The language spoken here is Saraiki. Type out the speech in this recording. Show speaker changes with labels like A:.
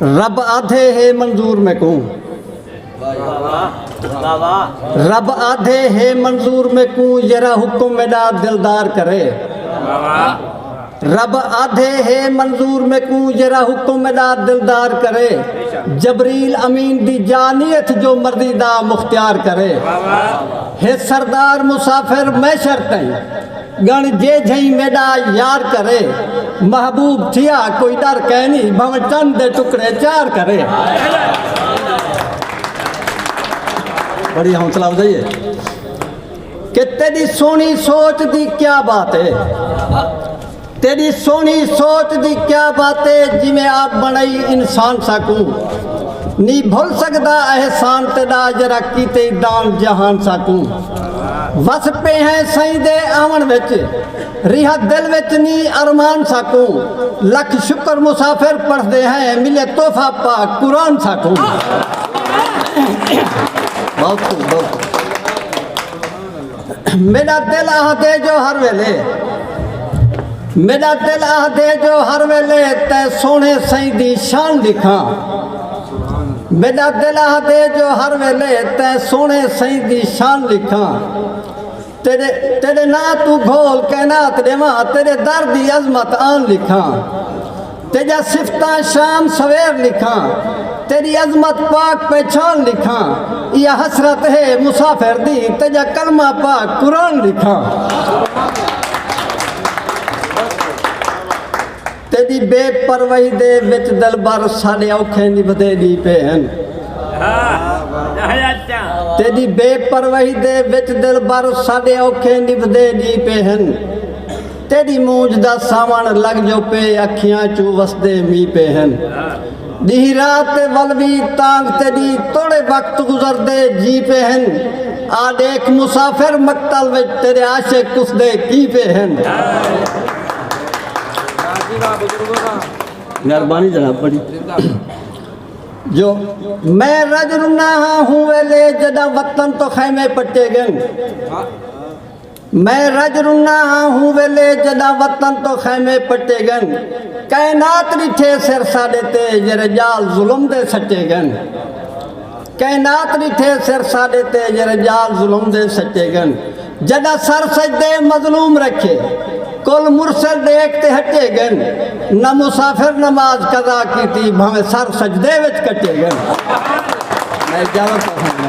A: رب آدھے ہے منظور میں کوں رب آدھے ہے منظور میں کوں یرا حکم میڈا دلدار کرے رب آدھے ہے منظور میں کوں یرا حکم میڈا دلدار کرے جبریل امین دی جانیت جو مرضی دا مختیار کرے ہے سردار مسافر میں شرطیں ڳݨ جے جھئیں میݙا یار کرے۔ محبوب تھیا کوئی ݙر کینی بھانویں چن دے ٹکڑے چار کرے۔ بڑی حوصلہ افزائی ہے کہ تیݙی سوہݨی سوچ دی کیا بات ہے تیݙی سوہݨی سوچ دی کیا بات ہے جیویں آپ بݨائی انسان ساکوں نی بھل سڳدا احسان تیݙا جیڑھا کیتے دان جہان ساکوں۔ وس پے ہیں سائیں دے آون وچ ریہ دل وچ نی ارمان ساکو لکھ شکر مسافر پڑھ دے ہیں ملے تحفہ پاک قرآن ساکو میرا دل آہ دے جو ہر ویلے میرا دل آہ دے جو ہر ویلے تے سونے سائیں دی شان دکھاں میڈا دل آہدے جو ہر ویلے تے سونے سائیں دی شان لکھاں تیرے تیرے نا تو گھول کائنات دیواں تیرے در دی عظمت آن لکھاں تیجا صفتاں شام سویر لکھاں تیری عظمت پاک پہچان لکھاں یہ حسرت ہے مسافر دی تیجا کلمہ پاک قرآن لکھاں تیݙی بے پرواہی دے وچ دلبر ساݙے اوکھیں دی ودھے ݙی پئے ہن تیݙی بے پرواہی دے وچ دلبر ساݙے اوکھیں دی ودھے ݙی پئے ہن تیݙی مونجھ دا ساوݨ لڳ جو پئے اکھیاں چوں وسدے می پئے ہن ڈیہہ راہ تے ولوی تانگھ تے ڈی توڑے وقت گزردے جی پے ہن آ ڈیکھ مسافر مقتل وچ تیرے عاشق کسدے کی پے ہن۔ جو میں رج رنا ہاں ہوں ویلے جڈاں وطن تو خیمے پٹے گن۔ میں رج رنا ہاں ہوں ویلے جڈاں وطن توں خیمے پٹے گن کائنات ڈٹھے سر ساڈے تے جیرے جال ظلم دے سٹے گن کائنات ڈٹھے سر ساڈے تے جیرے جال ظلم دے سٹے گن جڈاں سر سجدے مظلوم رکھے کل مرسل دیکھ تے ہٹے گن نہ مسافر نماز قضا کیتی بھویں سر سجدے وچ کٹے گن میں جاوت ہوں